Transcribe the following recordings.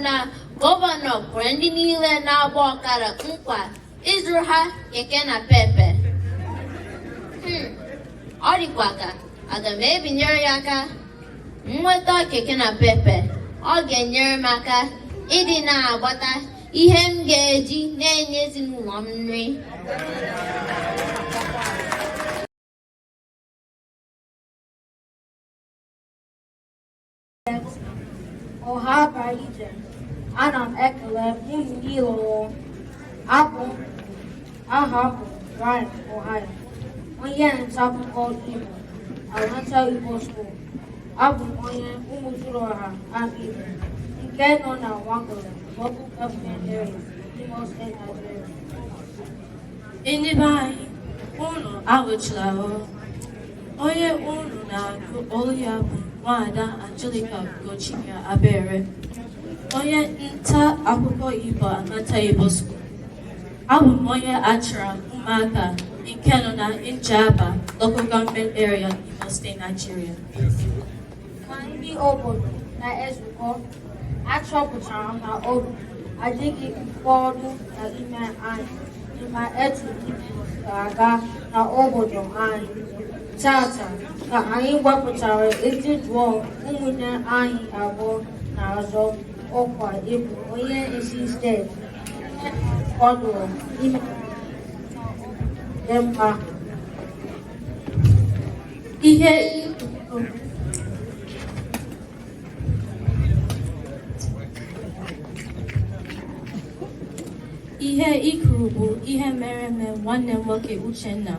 na gọvanọ kwere ndị niile na-agba ọkada nkwa ịzụrụ ha keke na pepe hmm, ọ dịkwa ka aga m ebinyere ya aka nweta keke na pepe ọ ga-enyere m aka ịdị na-agbata ihe m ga-eji na-enye ezinụlọ m nri ọha na eze ana m ekele unu niile ọrụ abụ aha m bụ Brian Ohio onye nta akụkọ Igbo Amaka Igbo School abụ m onye Umuduruoha Amaigbo nke nọ na Nwangele local government area Imo State Nigeria ndị be anyị unu anwụchula o onye unu na-anụ olu ya bụ nwaada Angelica Ugochike Abere onye nta akụkọ Igbo Amaka Igbo School abụ m onye Achara Ụmụaka nke nọ na Njaba local government area Imo State Nigeria na ndị obodo na-ezukọ achọpụtara m na obi adịghị ụfọdụ n'ime anyị mma etu ihe na-aga na obodo anyị tata ka anyị gbakọtara iji jụọ ụmụnne anyị abụọ na-azọ ọkwa ịbụ onye isi steeti kwadoro ime dị mma ihe ihe i kwuru bụ ihe mere eme nwanne m nwoke Uchenna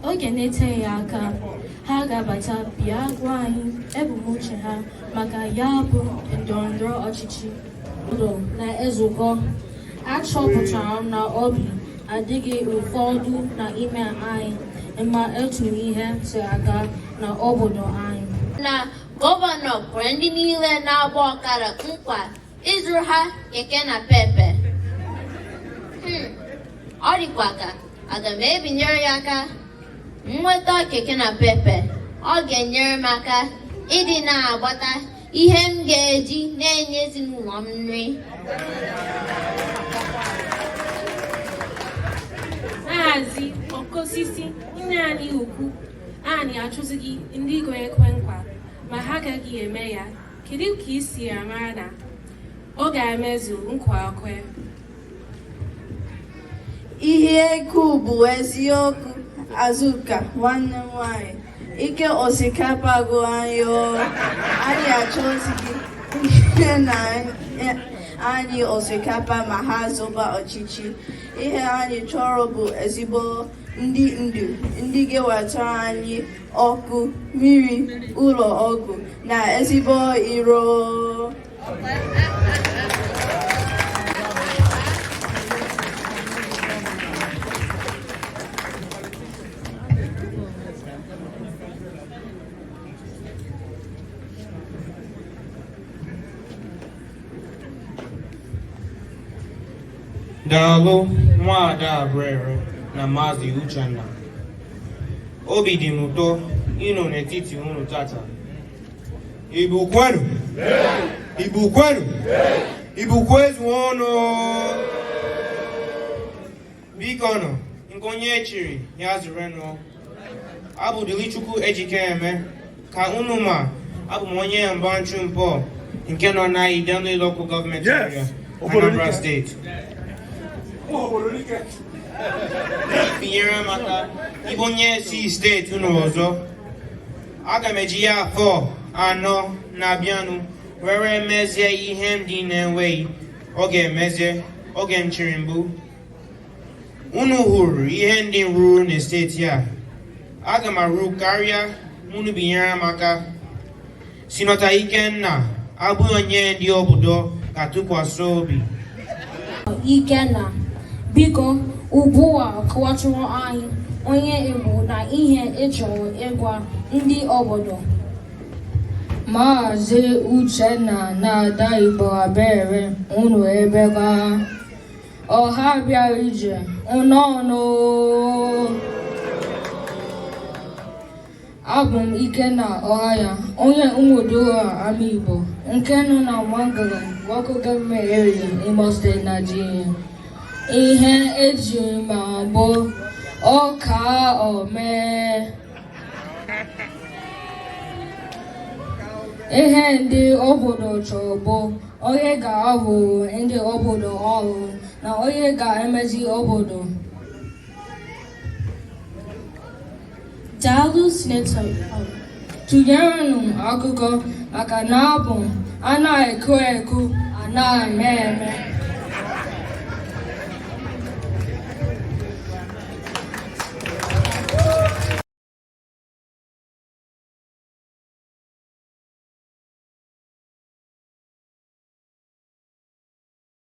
oge na-eteghị aka ha ga-abata bịa gwa anyị ebumnuche ha maka ya bụ ndọrọndọrọ ọchịchị na-ezukọ achọpụtara m na obi adịghị ụfọdụ na ime anyị mma etu ihe si aga na obodo anyị na gọvanọ kwere ndị niile na-agba ọkada nkwa ịzụrụ ha keke na pepe hmm, ọ dịkwa ka aga m ebinyere ya aka nweta keke na pepe ọ ga-enyere m aka ịdị na-agbata ihe m ga-eji na-enye ezinụlọ m nri Maazị Okeosisi nna anyị ukwu anyị achọzighị ndị ga-ekwe nkwa ma ha agaghị eme ya kedu ka i si amara na ọ ga-emezu nkwa o kwere ihe i kwuru bụ eziokwu Azụka nwanne m nwanyị Ike osikapa agwụ anyị o anyị achọzighị ndị na-enye anyị osikapa ma ha zọba ọchịchị ihe anyị chọrọ bụ ezigbo ndị ndu ndị ga-ewetara anyị ọkụ mmiri ụlọ ọgwụ na ezigbo iro Daalụ Nwaada Abere na Maazị Uchenna. Obi dị m ụtọ ịnọ n'etiti unu tata Igbo kwenu Igbo kwenu Igbo kwezuonụ bikonụ nke onye echiri ya zerenụ abụ m Dilichukwu Ejikeme ka unu ma abụ m onye Mgbachu Nkpor nke nọ na Idemili Local Government Area Anambra Steeti binyere m aka ịbụ onye isi steeti unu ọzọ aga m eji ya afọ anọ na-abịanụ were mezie ihe ndị m na-enweghị oge emezie oge m chịrị mbụ unu hụrụ ihe ndị m rụrụ na steeti a aga m arụ karịa ma unu binyere m aka sinọta Ikenna abụghị onye ndị obodo ga-atụkwasị obi Ikenna biko ugbu a kọwatụrụ anyị onye ị bụ na ihe ị chọrọ ịgwa ndị obodo Maazị Uchenna na Ada Igbo Abere unu emeka ọha bịara ije nnọọnụ Abụ m Ikenna Ọhaya, onye Umuodoha Amaigbo nke nọ na Nwangele Local Government Area, Imo State, Nigeria. Ihe eji ma m bụ ọkaa omee. Ihe ndị obodo chọrọ bụ onye ga-arụrụ ndị obodo ọrụ na onye ga-emezi obodo. daalụ sinetọ tụnyerenụ akụkọ maka na abụ anaghị ekwu ekwu anaghị eme eme